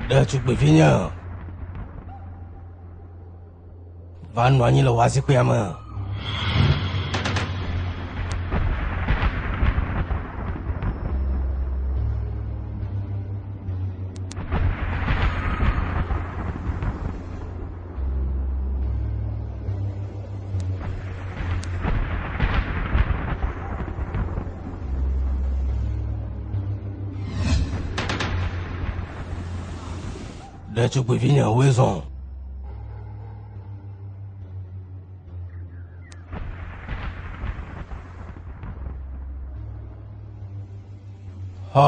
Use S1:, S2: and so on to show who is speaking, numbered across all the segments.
S1: Ɖetugbivi nye va nɔ anyi le wazikpuia me. ɖetugbuivi nyawoe zɔ hɔ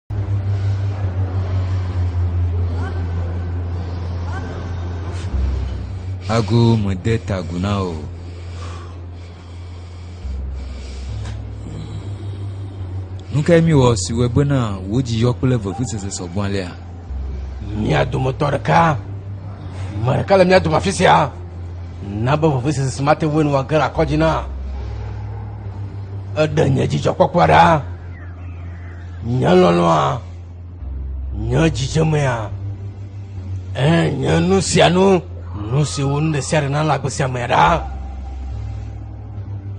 S1: Ago mede ta agu na o. Nu kae miwɔ si wɔe bena wò dzi yɔ kple vevusese sɔgbɔ alea? Mía dometɔ ɖeka, ame ɖeka le mía dome afi sia, na be vevusese si mate ŋui nu wòage le akɔdzi na. Eɖe nye dzidzɔkpɔkpɔa ɖa. Nye lɔlɔ̃a, nye dzidzemea, ẽ, nye nu sia nu, nu si wu nu ɖe sia ɖe nalé agbe sia amea ɖa.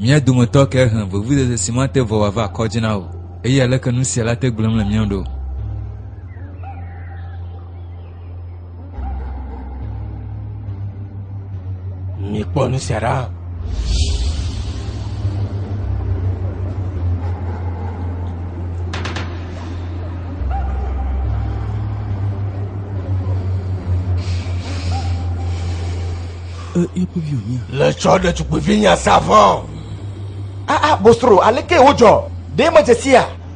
S1: Mía dometɔ kae he vevudede si mate vɔ wòava kɔdzi na o, eye aleke nu sia le ate gblẽm le mía ŋu ɖo? Mikpɔ nu sia ɖa. Le tsɔ ɖetugbuivi nya sa vɔ. Aa Bostro, aleke wòdzɔ? Ɖe mèdze sia?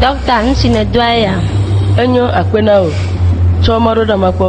S1: Dɔkta, nu si nèdoa ya. Enyo akpe na wò. Tsɔ mɔɖoɖeame kpɔ.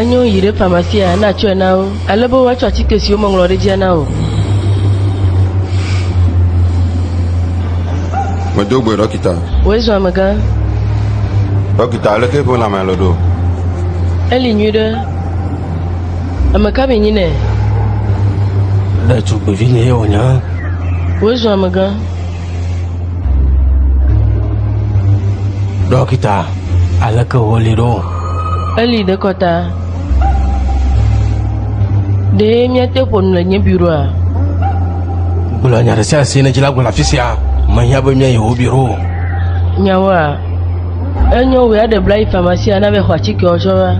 S1: enyo yi ɖe pharmacia na tsɔe na wo ale be woatsɔ atike siwo meŋlɔ ɖe dzia na o. medo gbe ɖɔkita Wòe zɔ amegã. Ɖɔkita, leke ƒe lãme le ɖo? Eli nyuiɖe. Ame ka mi nyi nɛ? Ɖetugbivi nye ye wònya. Wòe zɔ amegã. Ɖɔkita, aleke wòli ɖo? Eli ɖe kɔta. Ɖee míate ƒo nu le nye biroa? Gblɔ nya ɖe sia si nèdzi la gblɔ le afi sia. Mehiã be míayi wò biro o. Nyawoa, enyo wòe aɖe bla yi famasia na be xɔ atikewo tsɔ va.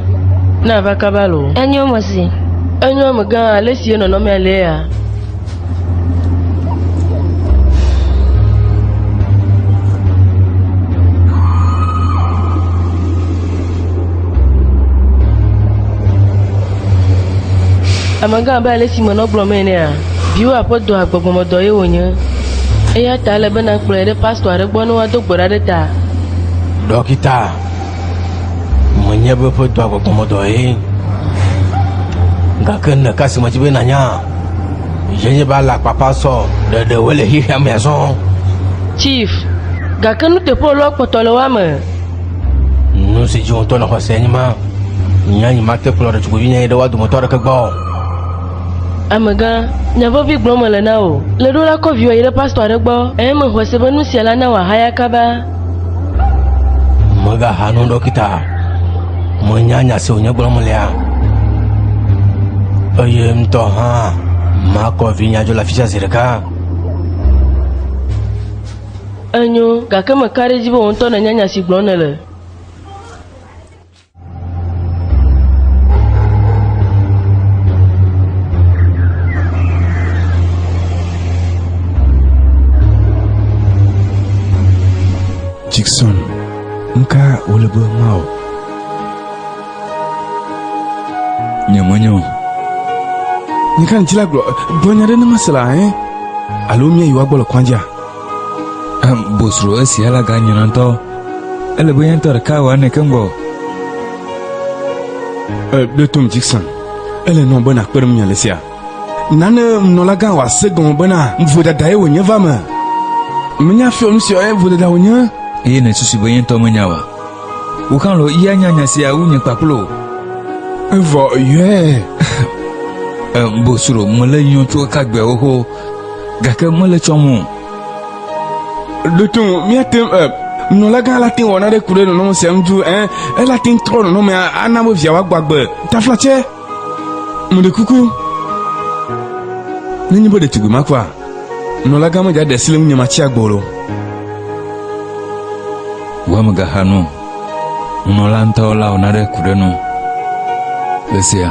S1: Na va kaba loo. Enyo mesi. Enyo megã ale si ye nɔnɔmea lea. Amegã abe ale si menɔ gblɔm enea, viwò aƒedɔa gbɔgbɔmedɔ ye wònye. Eya ta ele be nàkplɔe ɖe pastɔ aɖe gbɔ ne woado gbe ɖa ɖe ta. Ɖɔkita, menye be ƒedɔa gbɔgbɔmedɔ ye, gake nèka si medzi be nànya? Yeye ba la kpakpa sɔ ɖeɖe wo le xexea me azɔ. Chief, gake nuteƒe lɔ kpɔtɔ le wa me. Nu si dzi wotɔ le xɔse enyi ma. Nya nyi ma te kplɔ ɖetugbivi nya yi ɖe wa dometɔ aɖeke gbɔ. Amegã, nya vevi gblɔm mele na wò. Le ɖo la kɔ viwò yi ɖe pastor aɖe gbɔ eye me xɔse be nu sia la na wò ahaya kaba. Megaha nu ɖɔkita. Menya nya si wònye gblɔm lea. Eye ŋutɔ hã makɔ vinye dzo le afi sia zi ɖeka. Enyo, gake meka ɖe edzi be wò ŋutɔ nènya nya si gblɔm nèle. Jackson, nka wòle be mawɔ? Nyemenye o. Nka ŋuti la gblɔ dɔnya ɖe ne mese la, eh? Alo míayi woagbɔ le kɔnjia? Em bosro esia la ga nyina ŋutɔ. Ele be yɛntɔ ɖeka wɔ ene ke ŋgɔ. E ɖe tom Jackson. Ele nɔ be nakpe ɖe ŋunye le sia. Nane nunɔlagã wɔ ase gɔme bena vodada ye wònye va me. Menya fiɔ nu sia ye vodada wònye. Eye nèsusu be yɛntɔ menya wa? Wò hã lɔ ya nya nya sia wu nye kpakple wò. Evɔ yɔe. Em bosro mele yɔ tso eka gbea xoxo. Gake mele tsɔm o. Ɖo to ŋu, míate ŋu, eh, nunɔlagã la te ŋu wɔ naɖe ku ɖe nɔnɔme sia ŋu duu, eh, ela te ŋu trɔ nɔnɔmea ana be via wòagbɔ agbe. Taflatse, meɖe kuku, nenye be ɖetugbui ma kua, nunɔlagã medze aɖe asi le ŋunye matsi agbe o. Wò amegãha nu. Nunɔla ŋutɔ la wɔna ɖe ku ɖe nu ɣe sia.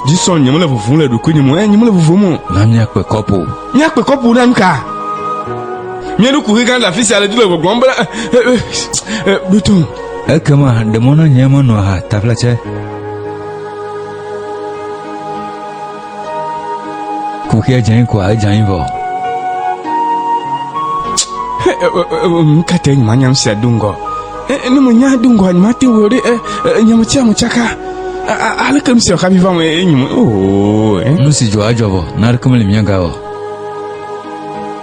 S1: Dzi sɔn nyemele vuvum le ɖokuinye mo, eye nyemele vuvum o. Na míakpe kɔpu. Míakpe kɔpu na nuka? Míeɖo kuxi gã ɖe afi sia le du le gbɔgblɔm bena, Ɖoto. Eh, eh, eh, Ekema ɖe mɔ na nye menɔ aha taflatse. Kuxia dze anyi koa? Edze anyi vɔ. Kate nyuma nyam sia do ŋgɔ. Ne mo nya do ŋgɔ nyuma te wo ɖe nyam tia mo tsaka. Ale kem sia xabi va mo e nyum. Nu si dzɔ adzɔ vɔ, na ɖe kem le mia ga o.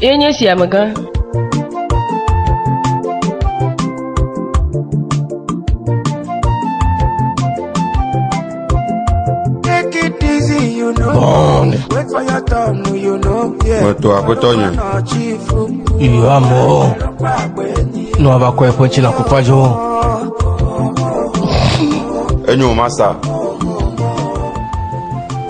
S1: Ye nye si amegã. Take it easy, you know. Bond. Wait for your turn, you know. Yeah. Wetɔ aƒetɔ nye. Iyo amewo ne woava kɔ eƒe tsi le akokwa dzo. Enyo masa.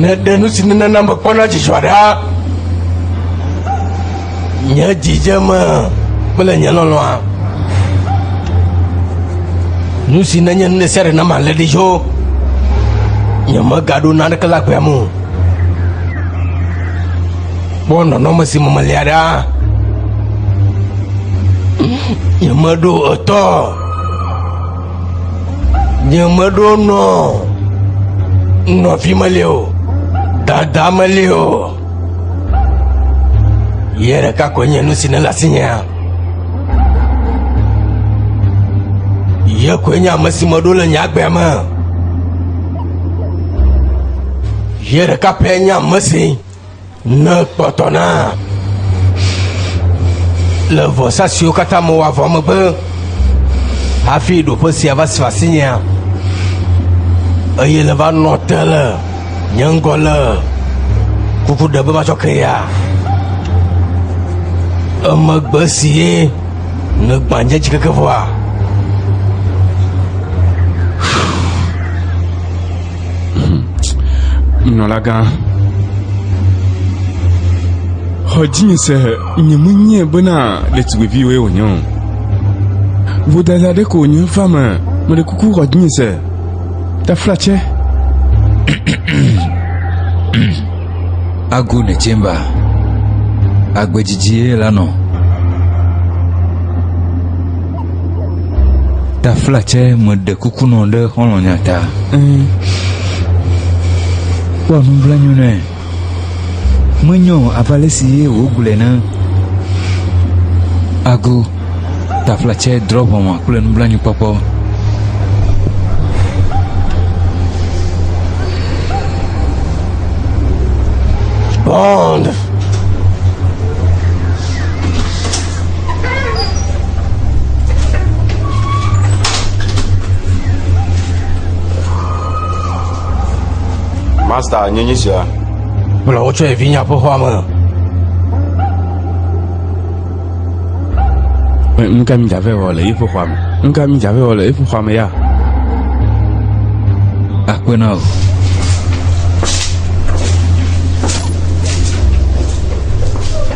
S1: Neɖe nu si nenana mekpɔna dzidzɔ ɖa, nye dzidzeme kple nye lɔlɔ̃a. Nu si nenye nu ɖe sia ɖe na malé ɖi tso nyemegaɖo naneke le aƒea me o. Kpɔ nɔnɔme si me melia ɖa. Nyemeɖo etɔ o. Nye meɖo nɔ nɔvi meli o, dada meli o. Yɛ ɖeka koe nye nu si ne le asinyea. Yɛ koe nye ame si meɖo le nye agbea me. Yɛ ɖeka pɛ nye ame si. Ne kpɔtɔ na le vɔsa siwo katã mewɔ vɔ megbe hafi ɖoƒe sia va si asinyea eye le va nɔ te le nye ŋgɔ le kuku ɖe be matsɔ ke ya emegbe si ye ne gbãdze dzi keke vɔa Nunɔlagã, xɔ dzinye se nye menye bena ɖetugbiviwoe wònye o. Vodada ɖe ko wònye va me, meɖe kuku xɔ dzinye se. Taflatse. Agu ne chamber. Agbedzidzi ye la nɔ. tafla tsɛ meɖe kuku nɔ ɖe xɔlɔ̃nya ta kpɔ nublanyo nɛ menyɔ ava le si ye wògblɔe na ago tafla tsɛ drɔ ʋɔnwa kple nublanyokpɔkpɔ Bond! Master, nyenye sia. Bla wotsɔ evi nya ƒe xɔa me. Nu ka mi dzave wɔ le eƒe xɔa me? Nu ka mi dzave wɔ le eƒe xɔa me ya? Akpe na o.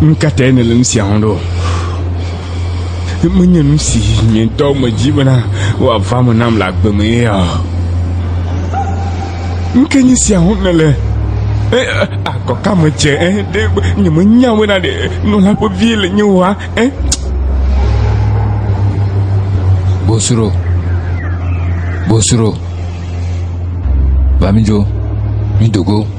S1: nu ka tae nèle nu sia wɔm ɖo menye nu si nye ŋutɔ medzi bena wòava me nam le agbe me ya nu ke nye sia wɔm nèle akɔ ka me dze ɖe nyemenya bena ɖe nɔla ƒe vie le nye wa Bosro, bosro, va mi dzo, mi do go.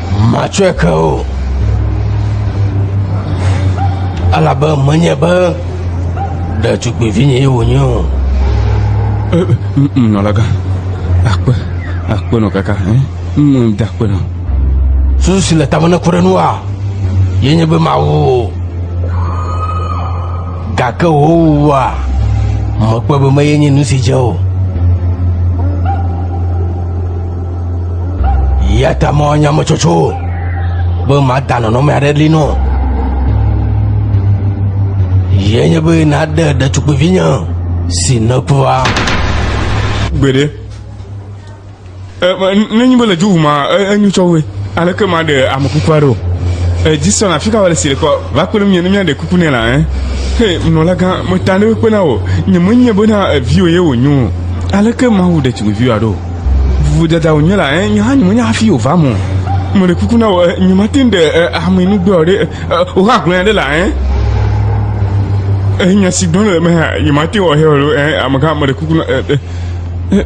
S1: Matsɔe ke o, elabe menye be ɖetugbivinyee wònye o. Nunɔlagã, akpe, akpe nɔ kaka, nu de akpe nɔ. Susu si le tame neku ɖe nua, ye nye be mawu o. Gake wò wua, mekpɔe be meye nye nu si dze o. ya ta mɔ nyametsotso be mada nɔnɔme aɖe li nɔ yie nye be naɖe ɖetugbivinye si nekuva gbeɖe nenyi be le dzi wuma enyu tsɔ woe aleke ma ɖe ame kukua ɖo edzi sɔna fi ka wale si le kɔ va kpe ɖe mie ne miaɖe kuku nɛ la ɛ he nɔlagã meta ne wokpena o nyemenye bena eviwo ye wonyo aleke mawu ɖetugbiviwoa ɖo Vuvudadawo nye la, eh, nye hã nyemenya hafi wòva eme o. Meɖe kuku na wò, eh, nyemate ŋu ɖe eh, ame nu gblɔ ɖe, eh, wò hã gblɔe ɖe la, eh. Eh, nya si gblɔm le me hã, nyemate ŋu ahea ɖo, eh, amegã, meɖe kuku na, eh, eh, eh,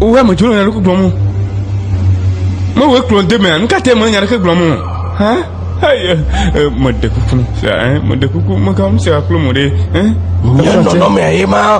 S1: wò hã medzro le naneke gblɔm o. Mewòe kplɔ de mea, nu ka te mele nya ɖeke gblɔm o, hã? Hey, eh, eh, meɖe kuku na, sia, eh, meɖe kuku, megam sia kplo mo ɖe, eh. Nye nɔnɔmea ye ma.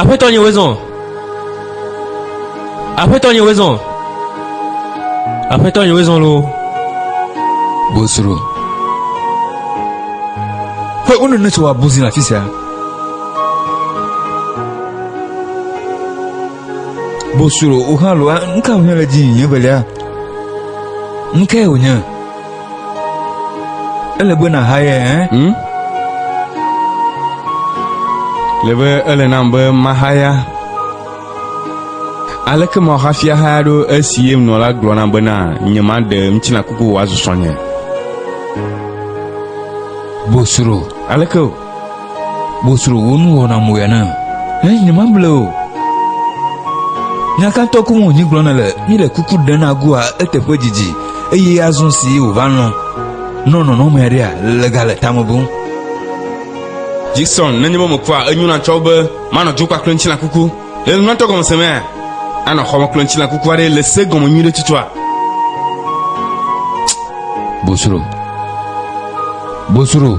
S1: Aƒetɔ nye wezɔn. Aƒetɔ nye wezɔn. Aƒetɔ nye wezɔn lo. Bosro. Ƒe unu ne tso wa buzi na fisia. Bosro o hã lo nka o hã le dzi nye belia. Nka o hã. Ele be nàhae ẽ? Hm? Le be ele nam be mahaya. Aleke mahafi ahaya ɖo esi ye nɔ la gblɔ nam bena nyemaɖe ŋutilã kuku wòazu srɔ̃nye? Bosro. Aleke o? Bosro wo nu wɔna mo ya na. Ɛ nyema ble o. Nyakatɔ ku mo nyi gblɔna le mi le kuku ɖe na gua eteƒe didi eye azɔ si wo va lɔ. Nɔ nɔnɔ me aɖea le ga le tame bo. Jason nenye mo me kua enyu na tsɔ be manɔ dukwa kple ŋutilã kuku. Le nunyatɔ gɔme se mea, anɔ xɔmeklɔntila kuku aɖe le se gɔme nyuie ɖe tutua. Bosro. Bosro.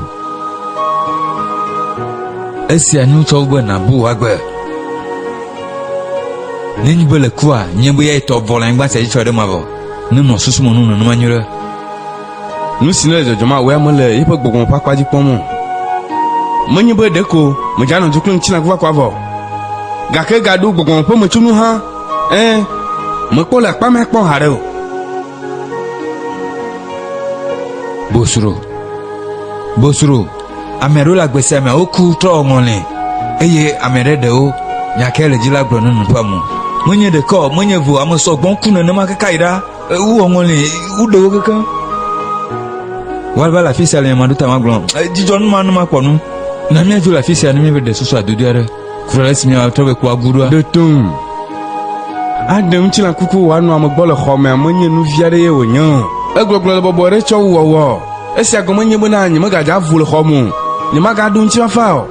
S1: Esia nu tsɔ be nabu wagbe. Nenyi be le kua, nye be ya etɔ vɔ le anyigba sia dzi tsɔ ɖe ma vɔ. Ne nɔ susu me nu nenema nyuie ɖe. Nu si nele dzɔdzɔm awɔe ame le eƒe gbɔgbɔ me ƒe akpa dzi kpɔm o. Menye be ɖeko medzanɔ du kple ŋutilã kuvakua vɔ o, gake egaɖo gbɔgbɔ me ƒe metsonu hã, ẽ, mekpɔ le akpa mea kpɔ haɖe o. Bosro. Bosro. Ame aɖewo le agbe sia mea, woku trɔ wɔ ŋɔli, eye ame aɖe ɖewo nya kae le dzi la gblɔ ne nu ƒe amu. Menye ɖeke o, menye eve o, ame sɔgbɔ ku nenema keke ayi ɖa. Ewu wɔŋɔ li, woɖe wo keke. Woava le afi sia le nyamaɖo ta magblɔ. Dzidzɔ nu ma nu makpɔ nu. Na míadzo le afi sia ne míaɖe susu adodo aɖe. Kura le esi míatrɔ be kua gu ɖoa. Ɖe to ŋu. Aɖe ŋutilã kuku wòanɔ ame gbɔ le xɔ mea menye nu vi aɖe ye wònye o. Egbɔgblɔ le bɔbɔe ɖe tsɔ wu wɔwɔ. Esia gɔme nye bena nyemegadze avu le xɔa me o. Nyemagaɖo ŋutifafa o.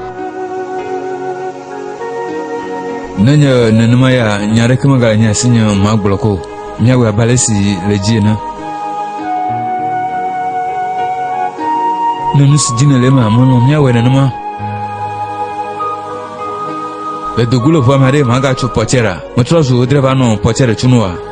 S1: Nenye nenema ya, nya aɖeke megale nye asi nye magblɔ ko. Míawɔe abe ale si le dzi ene. Ne nu si dzi nèle ema melɔ̃ míawɔe nenema. Le dogo le ʋua me aɖe magatso Pɔtsɛra. Metrɔ zu drɛva nɔ Pɔtsɛra tunu wa.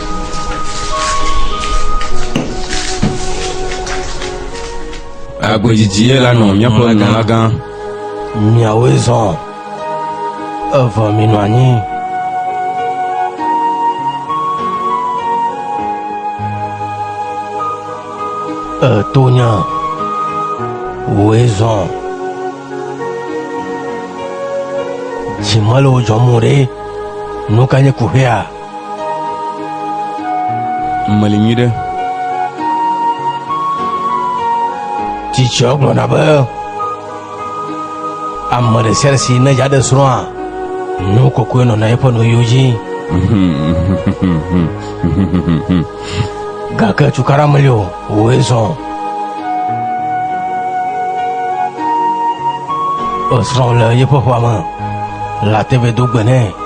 S1: Agbedzidzi ye la nɔ míaƒe nunɔlagã. Miawoe zɔ. Evɔ minɔ anyi. Etonya. Woe zɔ. Dzimele wo dzɔm ɖe. Nu ka nye kuhea? Meli nyui ɖe. Tsitsɔ gblɔna be ame ɖe sia ɖe si ne dza ɖe srɔ̃a nu kɔkɔe nɔna eƒe nuyiwo dzi. Gake cukaɖa meli o, wòe zɔ. Esrɔ̃ le yeƒe ƒua me. Lateve do gbe nɛ.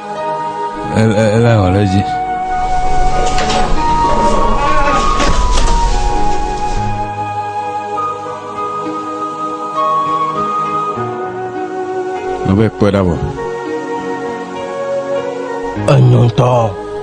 S1: Ela wɔ ɖe dzi. Mebe kpe ɖa vɔ. Enyɔntɔ.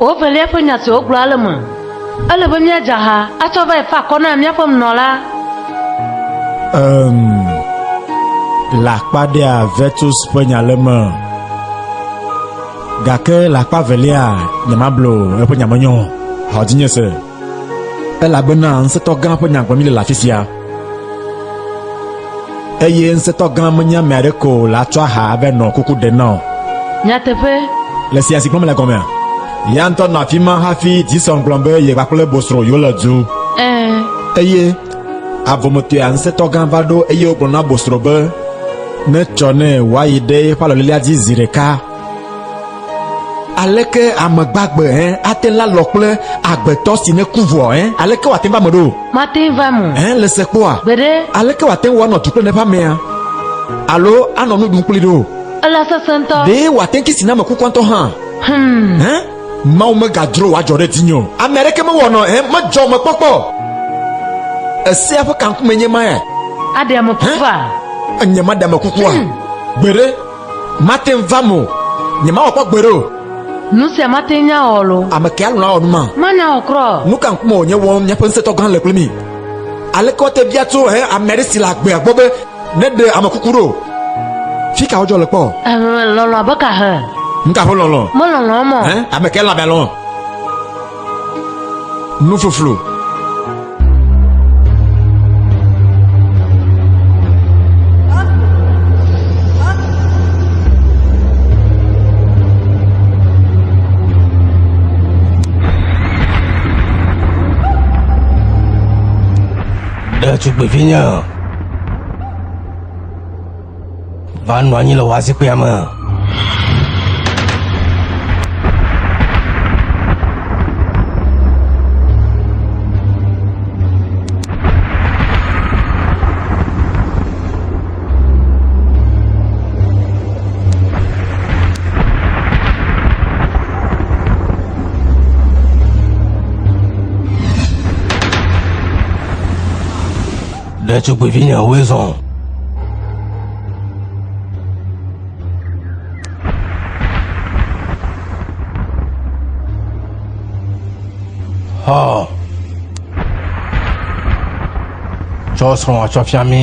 S1: Wovelia ƒe nya si wogblɔ ale me, ele be míadze ha atsɔ va fa akɔ na míaƒe nunɔla. Um, le akpa ɖea Vetus ƒe nya le me. Gake le akpa evelia, nyemablo eƒe nya me nyɔ o. Xɔ dzinye se. Elabena ŋusẽtɔ gã ƒe nya gblɔm míle le afi sia. Eye ŋusẽtɔ gã menye ame aɖe ko le atsɔ aha ave nɔ kuku ɖem na o. Nyateƒe. Le sia si gblɔm mele gɔmea, ya ŋutɔ nɔ afi ma hafi Dison gblɔ be ye kpakple Bosro yewole du. Ẽ. Eye Avɔmetɔea ŋusẽtɔ gã va ɖo eye wogblɔ na bosrɔ̃ be netsɔ nɛ wòayi ɖe eƒe alɔlilea dzi zi ɖeka. Aleke ame gbagbe hẽ ate ŋu alɔ kple agbetɔ si neku vɔ hẽ? Aleke wòate ŋu va eme ɖo? Mate ŋu va eme o. Hẽ, le sekpɔa? Gbeɖe. Aleke wòate ŋu anɔ du kple eƒe amea alo anɔ nu ɖum kpli ɖo? Ele sesẽ ŋutɔ. Ɖe wòate ŋu kisi na ame kukua ŋutɔ hã? Hum. Hẽ? Mawu megadzro wòadzɔ ɖe dzinye o. Ame aɖeke mewɔnɔ he medzɔ mekpɔkpɔ o. Esea ƒe kankumee nye ma ya. Aɖe ame kukua? He? Nye maɖe ame kukua? Hmm. Gbeɖe, mate ŋu vam o. Nye mawɔ kpɔ gbeɖe o. Nu sia mate ŋu awɔ lo. Ame ke alɔ̃ awɔ nu ma? Mana wɔ kura o. Nu ka ŋkume wònye wɔm míaƒe ŋusẽtɔ gã le kpli mí? Aleke woate bia tso he ame aɖe si le agbea gbɔ be Ne ɖe ame kuku ɖo, fi ka wodzɔ le kpɔ? Ehe, lɔlɔ abe ka he? Nu ka ƒe lɔlɔ? Melɔlɔ mɔ. Hẽ, ame kae lãme lɔ? Nu fluflu. Ɖetugbivinya. Va nɔ anyi le wòa zikpuia me. Ɖetugbuivinyewoe zɔ. Hɔ. Tsɔ srɔ̃ atsɔ fia mi.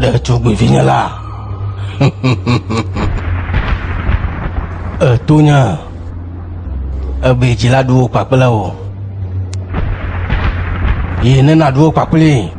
S1: ɖetugbivinye la èto nya ebe dzila ɖuwo kpakple wò yi ne nàɖuwo kpakpli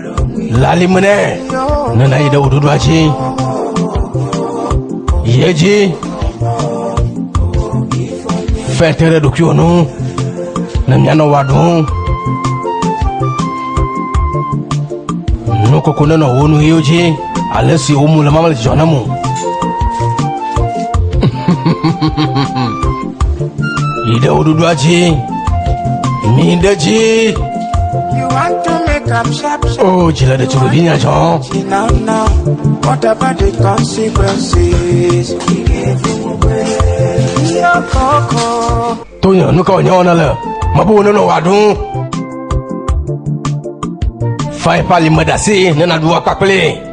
S1: lalimene nana yi ɖe wò ɖoɖoa dzi yie dzi fɛ te ɖe ɖokuiwò nu ne mianɔ wɔ aɖum nukoko nenɔ wo nu ɣiwo dzi ale si wo mu le mamle dzidzɔ na mo Yi ɖe wo ɖoɖoa dzi. Mi ɖe dzi. You want to make up sharp sharp. Oh, dzi le ɖetugbivi nya dzɔ. Now now, what about the consequences? Yo koko. Tonyo, nu ka wònyɔ wɔna le? Mabu wo nɔnɔ wɔ aɖu. Fain pali me ɖe asi ne naɖu akpakple.